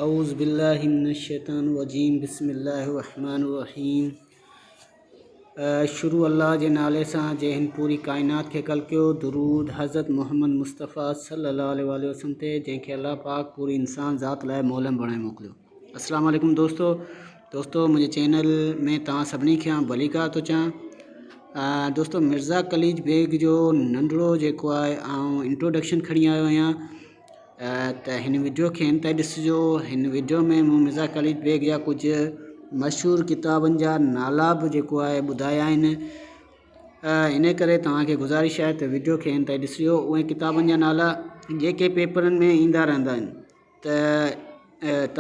اعوذ بالله من الشيطان الرجيم بسم الله الرحمٰن الرحيم شروع الله جي نالي سان جنهن پوري ڪائنات کي خلقيو درود حضرت محمد مصطفٰي صلي الله عليه واٰله وسلم تي جنهن کي الله پاڪ پوري انسان ذات لاء مولم بڻائي موڪليو السلام عليڪم دوستو دوستو منهنجي چينل ۾ توهان سڀني کي آئون ڀليڪار ٿو چاهيان دوستو مرزا قليج بيگ جو ننڍڙو جيڪو آهي آئون انٽروڊڪشن کڻي آيو آهيان ته هن وڊيو کي انتهائي ڏسجو هن وڊيو ۾ مون مرزا خالد بيگ جا ڪجهه مشهور ڪتابن جا نالا به جيڪو آهي ٻڌايا آهن ان ڪري توهانکي گذارش آهي ته وڊيو کي انتهائي ڏسجو اهي ڪتابن جا نالا جيڪي پيپرن ۾ ايندا رهندا آهن ته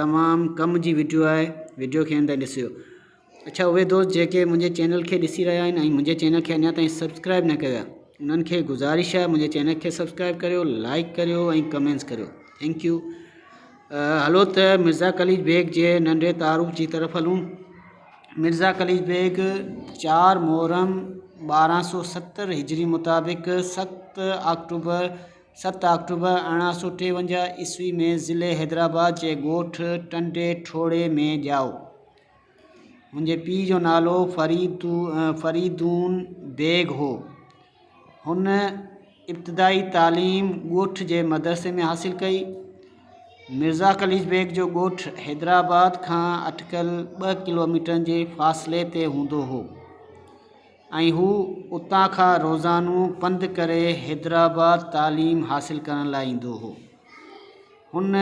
تمام ڪم جي وڊيو آهي وڊيو کي انتهائي ڏسجو اڇا اهي دوست جيڪي منهنجي چينل کي ڏسي رهيا آهن ۽ منهنجي چينل کي اڃا تائين سبسڪرائب نه ڪيو آهي انهن کي گذارش آهي منهنجي چينل کي سبسڪرائب ڪريو لائڪ ڪريو ۽ ڪمينس ڪريو ٿينڪ يو هلو ته مرزا قليج بيگ جي ننڍي تعارف جي طرف هلون مرزا قليج بيگ چار محرم ٻارهن سو ستر هجري مطابق ست آڪٽوبر ست آڪٽوبر ارڙهن سو ٽيونجاهه عيسوي ۾ ضلعي حيدرآباد جي ڳوٺ ٽنڊي ٺوڙهي ۾ ڄائو منهنجي پيء جو نالو فريدون بيگ هو. هن ابتدائي تعليم ڳوٺ جي مدرسي ۾ حاصل ڪئي. مرزا قليچ بيگ جو ڳوٺ حيدرآباد کان اٽڪل ٻه ڪلوميٽرن جي فاصلي تي هوندو هو ۽ هو اتان کان روزانو پنڌ ڪري حيدرآباد تعليم حاصل ڪرڻ لاء ايندو هو. هن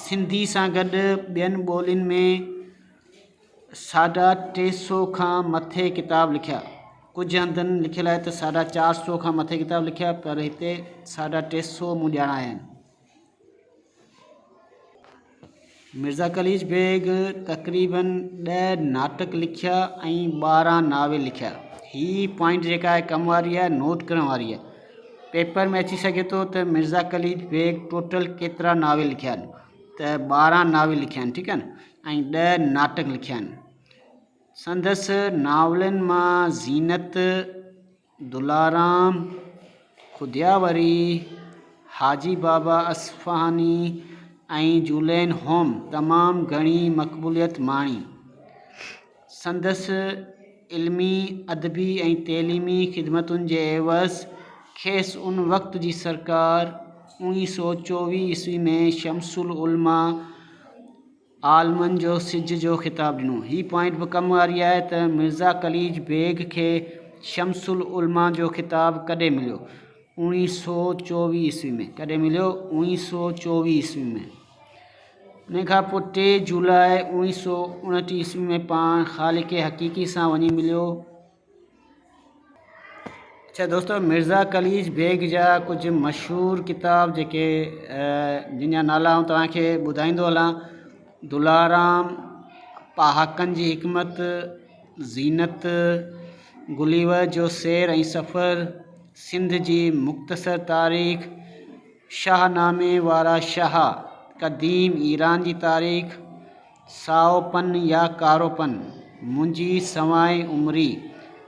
سنڌي سان گڏ ٻين ٻولين ۾ ساڍا ٽي سو کان مٿي ڪتاب لکيا. ڪجهه هنڌن لکيل آهي ته ساڍا چار سو کان مٿي ڪتاب لکيا پر هتي ساڍا ٽي سو مون ڄاڻايا آهن. مرزا قليچ بيگ تقريباً ڏهه ناٽڪ لکيا ۽ ٻارهن ناول لکيا. هي پوائنٽ جيڪا آهي ڪم واري آهي نوٽ ڪرڻ واري آهي. پيپر ۾ اچي سگهي ٿو ته مرزا قليچ بيگ ٽوٽل ڪيترا ناول لکيا آهن ته ٻارهن ناول لکيا آهن ٺيڪ آهن ۽ ڏهه ناٽڪ لکيا آهن سندس ناولن مان زينت دلارام خدياوري حاجي بابا اصفهاني ۽ جولين هوم تمام گهڻي مقبوليت ماڻي سندس علمي، ادبي ۽ تعليمي خدمتن جي عيوض کيس ان وقت جي سرڪار اوڻي سؤ چوويهه عيسوي ۾ شمس العلماء عالمن جو سج جو خطاب ڏنو. هي پوائنٽ به ڪم واري آهي ته مرزا قليچ بيگ کي شمس العلماء جو خطاب ڪڏهن مليو؟ اوڻي سؤ چوويهه عيسوي ۾. ڪڏهن مليو؟ اوڻي سؤ چوويهه عيسوي ۾. انهيء کان پوء ٽي جولاء اوڻيهه سؤ اڻٽيهه عيسوي ۾ پاڻ خالق حقيقي سان وڃي مليو. اڇا دوستو مرزا قليچ بيگ جا ڪجهه مشهور ڪتاب جيڪي جن جا نالا آئون توهان کي ٻڌائيندو هلان دلارام پهاڪن جي حڪمت زينت گليور جو سير ۽ سفر سنڌ جي مختصر تاريخ شاهه نامي وارا شاهه، قديم ايران جي تاريخ، سائو پن يا ڪارو پن، منهنجي سوانح عمري،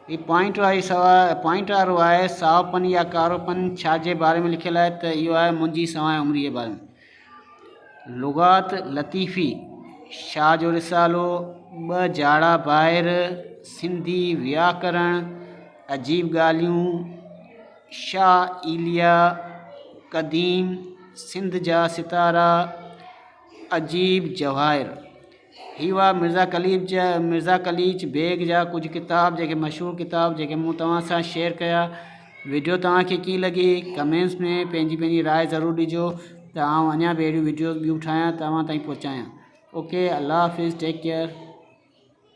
هي پوائنٽ واري سوا پوائنٽ وارو آهي سائو پن يا ڪارو پن ڇا جي باري ۾ لکيل آهي ته اهو آهي منهنجي سوانح عمري جي باري ۾. لغات لطيفي شاهه جو رسالو، ٻه جاڙا ڀائر، سنڌي وياڪرڻ، عجيب ڳالهيون، شاهه ايليا، قديم سنڌ جا ستارا، عجيب جواهر، هي هئا مرزا قليچ جا مرزا قليچ بيگ جا ڪجهه ڪتاب جيڪي مشهور ڪتاب جيڪي مون توهان سان شيئر ڪيا وڊيو توهان کي ڪيئن لڳي ڪمينٽس ۾ پنهنجي پنهنجي راء ضرور ڏجو ته آئون اڃا به اهڙيون وڊيوز ٻيون ٺاهيان توهان تائين پهچايان اوڪي الله حافظ ٽيڪ ڪيئر